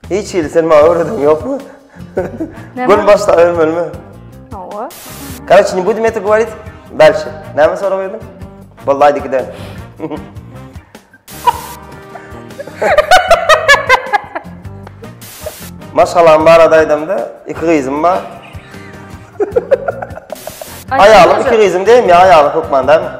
Hiç hili sen maňa öwreden ýokmy? Gün başda ölmelimi? Hawa. Kaç ni budi meta gowarit? Belki. Näme sorag berdim? Wallahi dik eden. Maşgalam bar adaýdamda, iki gyzym bar. Aýalym iki gyzym diýme, aýalym hökmanda.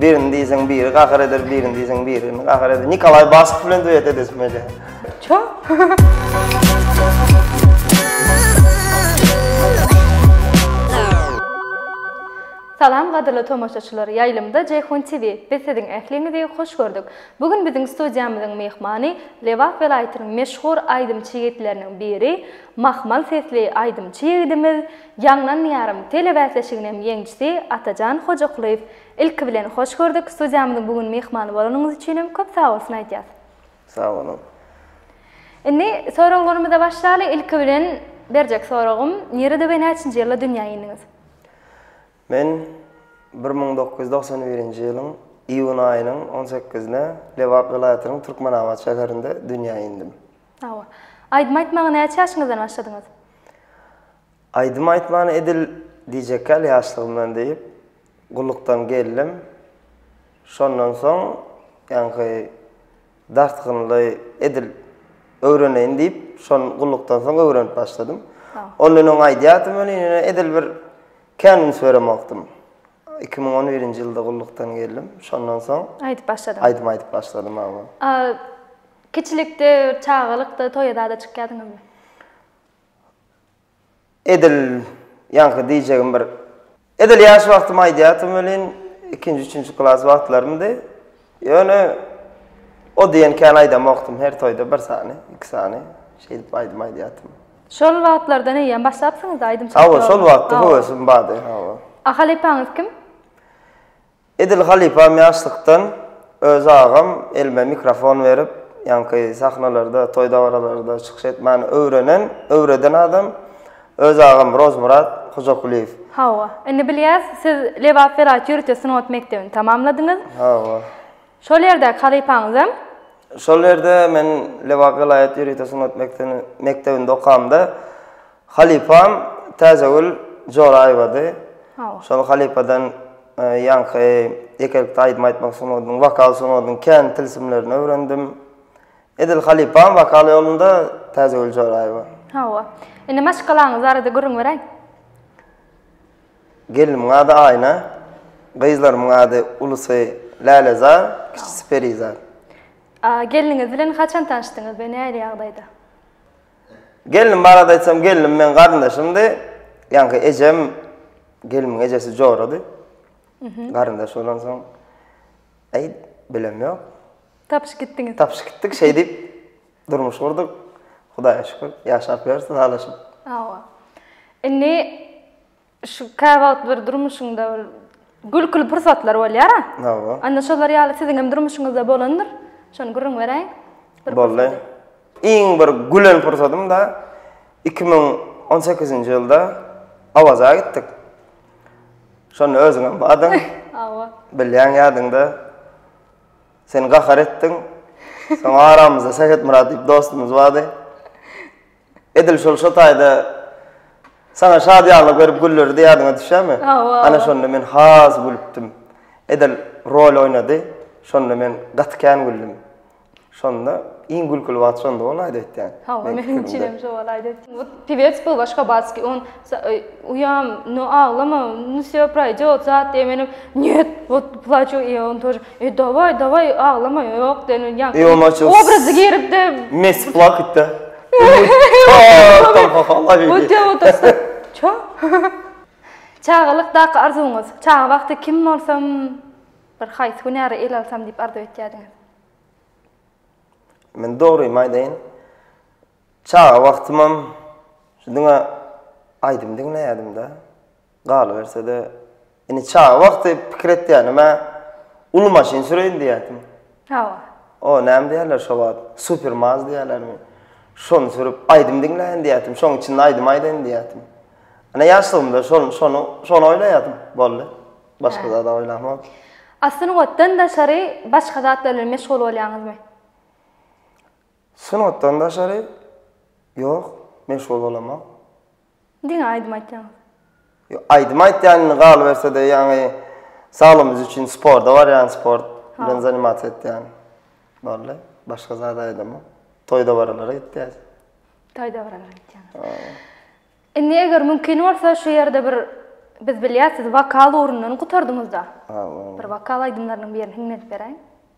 Birini diýseň biri gahar eder, birini diýseň birini gahar eder. Nikolaý Basov bilen duet edesim gelýär. Ço. Salam gadyrly tomaşaçylar, ýaýlymda Jeýhun TV. Biz siziň ähliňizi hoş gördük. Bu gün biziň studiýamyzyň myhmany Lebap welaýatynyň meşhur aýdymçy ýigitleriniň biri, mahmal sesli aýdymçy ýigidimiz Ýaňlan ýarym tele bäsleşiginem ýeňçisi Atajan Hojakulyýew. Ilki bilen hoş gördük, studiýamyzyň bu gün myhmany bolanyňyz üçinem köp sagbolsun aýdýas. Sag boluň. Indi soraglarymyza başlaly, ilki bilen berjek soragym, nirede we näçinji ýylda dünýä indiňiz? Men bir müň dokuz ýüz togsan birinji ýylyň iýun aýynyň on sekizine Lebap welaýatynyň Türkmenabat şäherinde dünýä indim. Hawa. Aýdym aýtmaga näçe ýaşyňyzdan başladyňyz? Aýdym aýtmany edil diýjekkäl ýaşlygymdan diýip, gullukdan geldim. Şondan soň, ýaňky dartgynly edil öwreneýin diýip, şony gullukdan soň öwrenip başladym. Ondan öň aýdýardym welin, ýöne edil bir kän üns beremokdym. Iki müň on birinji ýylda gullukdan geldim. Şondan soň. Aýdyp başladyň. Aýdym aýdyp başladym, hawa. A, kiçilikde, çagalykda toýa zada çykýadyňyzmy? Edil ýaňky diýjegim bir edil ýaş wagtymy aýdýardym welin, ikinji, üçünji klas wagtlarymdy. Ýöne o diýen kän aýdamokdym, her toýda bir sany, iki sany şeýdip aýdym aýdýardym. Şol wagtlardan eýýäm başlapsyňyz-da aýdymçylyk ýoluna? Hawa, şol wagtda höwesim bardy, hawa. A halypaňyz kim? Edil halypam ýaşlykdan öz agam elime mikrofon berip, ýaňky sahnalarda, toý-dabaralarda çykyş etmäni öwrenen, öwreden adam. Öz agam Rozmyrat Hojakulyýew. Hawa. Indi bilýäs, siz Lebap welaýat ýörite sungat mekdebini tamamladyňyz. Hawa. Şol ýerdäki halypaňyzam? Şol ýerde men Lebap welaýat ýörite sungat mekdebini mekdebinde okamda halypam Täjegül Joraýewady. Hawa. Şol halypadan ýaňky ýekelikde aýdym aýtmak sungatynyň, wokal sungatynyň kän tilsimlerini öwrendim. Edil halypam wokal ýolunda Täjegül Joraýewa. Hawa. Indi maşgalaňyz barada gürrüň beräý. Gelnimiň ady Aýna. Gyzlarymyň ady ulusy Lälezar, kiçisi Perizat. Gelniňiz bilen haçan tanyşdyňyz we nähili ýagdaýda? Gelnim barada aýtsam, gelnim meň garyndaşymdy. Ýaňky ejem, gelnimiň ejesi jorady. Garyndaş bolansoň, aý, bilem ýok. Tapyşyp gitdiňiz. Tapyşyp gitdik, şeý diýip durmuş gurduk. Hudaýa şükür, ýaşap ýörüs ylalaşyp. Hawa. Indi şu käwagt bir durmuşyňda bir gülküli pursatlar bolýar-a? Hawa. Onda şolar ýaly siziň hem durmuşyňyzda bolandyr. Şony gürrüň beräýiň. Boldy. Iň bir gülen pursadym-da iki müň on sekizinji ýylda Awaza gitdik. Şonda özüňem bardyň. Hawa. Bilýäň ýadyňda. Sen gahar etdiň. Soň aramyzda Sähetmyrat diýip dostumyz bardy. Edil şol şo taýda Saňa şadyýanlyk berip güllerdi ýadyňa düşýärmi? Hawa. Ana şonda men has gülüpdim. Edil rol oýnady. Şonda men gaty kän güldüm. Şonda iň gülküli wagt şonda bolaýdy öýtýän. Hawa, meniň üçin hem şo bolaýdy. Pewec był başga batski, on Uýam, nu aglama, nu vsýo proýdýot, zat diýmedim. Nýet, wot plaçu i on tor. E dawaý, dawaý, aglama, ýok diýen ýa. I on açyl. Obrazy giripdi. Mes plakatda. Wotýa otursa. Ço. Çagalykdaky arzuwyňyz. Çaga wagty kim bolsam, bir haýsy hünäri ele alsam diýip arzuw etýärdiňiz? Men dogrymy aýdaýyn. Çaga wagtymam şu diňe aýdym diňleýärdim-de. Galyberse-de, indi çaga wagty pikir etýänim-ä, uly maşyn süreýin diýýärdim. Hawa. O, näme diýerler şo wagt, super maz diýerlermi? Şony sürüp, aýdym diňläýin diýýärdim, şoň içinde aýdym aýdaýyn diýýärdim. Ine, ýaşlygymda şol, şony, şony oýlaýardym, boldy. Başga zad-a oýlamok. A sungatdan daşary başga zatlar bilen meşgul bolýaňyzmy? Sungatdan daşary ýok, meşgul bolamok. Diňe aýdym aýtýaňyz. Ýok, aýdym aýtýan indi galyberse-de ýaňy saglygymyz üçin sporda barýan, sport bilen zanimasiýa etýän. Boldy. Başga zat aýdamok. Toý-dabaralara gitýäs. Toý-dabaralara gitýäňiz. Indi eger mümkin bolsa şu ýerde bir biz bilýäs siz wokal ugrundan gutardyňyz-da. Bir wokal aýdymlarynyň birini hiňlenip beräýiň.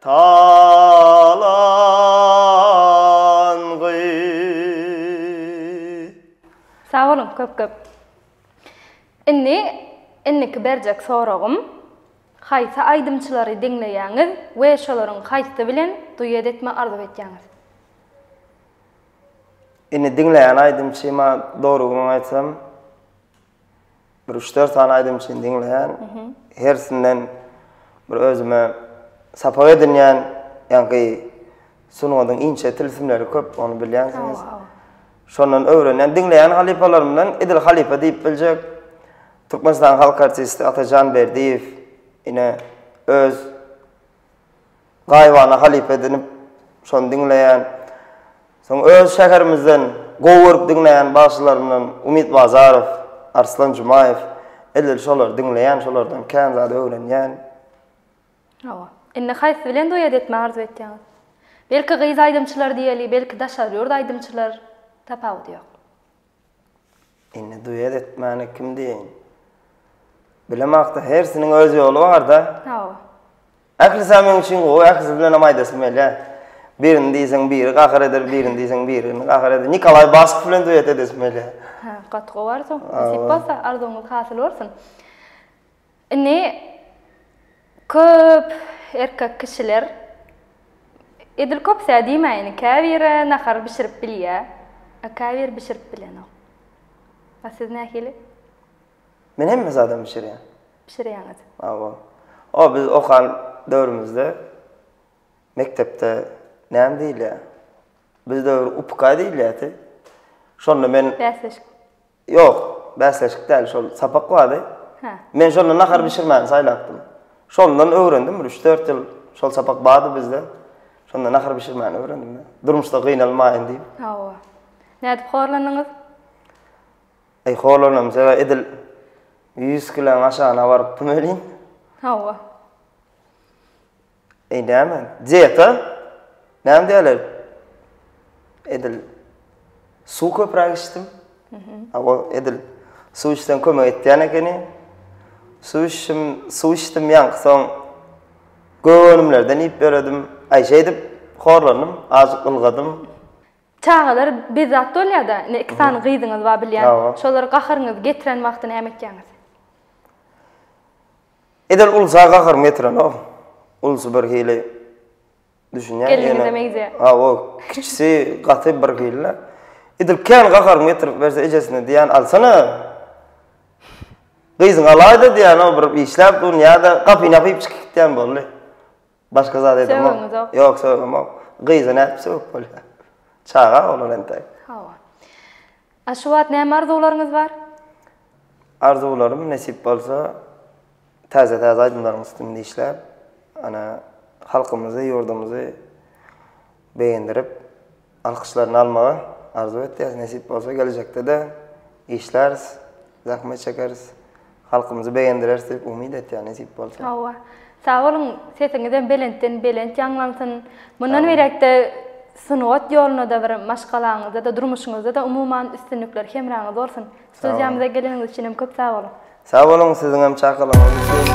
talangy. Sag boluň köp köp. Indi indiki berjek soragym haýsy aýdymçylary diňleýäňiz we şolaryň haýsy bilen duet etme arzuw etýäňiz? Indi diňleýän aýdymçyma dogrygyny aýtsam Bir üç-dört sany aýdym üçin diňleýän. Hersinden bir özüme sapak edinýän, ýaňky sungatyň inçe tilsimleri köp, ony bilýänsiňiz. Şondan öwrenýän, diňleýän halypalarymdan edil halypa diýip biljek Türkmenistanyň halk artisti Atajan Berdiýew ine öz Gaýybana halypa edinip, şony diňleýän. Soň öz şäherimizden gowy görüp diňleýän bagşylarymdan Umyt Bazarow, Arslan Jumaýew, edil şolary diňleýän, şolardan kän zat öwrenýän. Hawa. Indi haýsy bilen duet etmegi arzuw etýäňiz? Belki gyz aýdymçylar diýeli, belki daşary ýurt aýdymçylar, tapawudy ýok. Indi duet etmäni kim diýeýin? Bilemakda hersiniň öz ýoly barda. Hawa. Ählisi hem meň üçin gowy, ählisi bilen hem aýdasym gelýär. Birini diýseň biri gahyr eder, birini diýseň birini gahyr eder. Nikolaý Baskow bilen duet edesim gelýär. Hä, gaty gowy arzuw. Nasip bolsa arzuwyňyz hasyl bolsun. Indi köp erkek kişiler, edil köpüsä diýmäýin, käbiri nahar bişirip bilýär, a käbiri bişirip bilenok. A siz nähili? Men hemme zadam bişirýän. Bişirýäňiz. Hawa. O biz okan döwrümizde mekdepde näme diýilýär? Biz döwür upka diýilýärdi. Şonda men. Bäsleşik. Ýok, bäsleşik däl, şol sapak bardy. Hä. Men şonda nahar bişirmäni saýlapdym. Şondan öwrendim, bir üç-dört ýyl şol sapak bardy bizde. Şonda nahar bişirmäni öwrendim men. Durmuşda gynalmaýyn diýip. Hawa. Nädip horlandyňyz? Eý, horlanamyz-a, edil ýüz kiloň aşagyna barypdym welin. Hawa. Eý näme? Diýet-a? Näme diýerler? Edil suw köpräk içdim. A o edil suw içsem kömek etýän ekeni. Suw içdim, suw içdim ýaňky soň gök önümlerden iýip ýöredim. Aý şeýdip horlandym, azajyk ylgadym. Çagalar bezzat bolýar-da, ine iki sany gyzyňyz bar bilýän. Şolara gaharyňyzy getiren wagty näme etýäňiz? Edil ulsa gaharym getirenok. Ulsy birhili düşünýän. Gelniňize meňzeýär. Hawa, kiçisi gaty birhili-le. Edil kän gaharym getirip berse ejesine diýýän, Alsana! Gyzyňy alaý-da diýýän, o bir işläp durun ýa-da gapyny ýapyp çykyp gitýän boldy. Başga zat edemok. Sögüňizok. Ýok, sögümok. Gyza nädip sögüp bolýar? Çaga oglan entek. Hawa. A şu wagt näme arzuwlaryňyz bar? Arzuwlarym nesip bolsa täze-täze aýdymlaryň üstünde işläp, ana, halkymyzy, ýurdumyzy begendirip, Alkyşlaryny almagy arzuw etýäs, nesip bolsa gelejekde-de işläris, zähmet çekeris, halkymyzy begendireris diýip umyt etýän nesip bolsa. Hawa. Sag boluň, sesiňizem belentden belent ýaňlansyn. Mundan beýläk-de sungat ýoluna-da bir maşgalaňyzda-da, durmuşyňyzda-da umuman üstünlikler hemraňyz bolsun. Studiýamyza geleniňiz üçin hem köp sag boluň. Sag boluň, siziň hem çakylygyňyz üçin.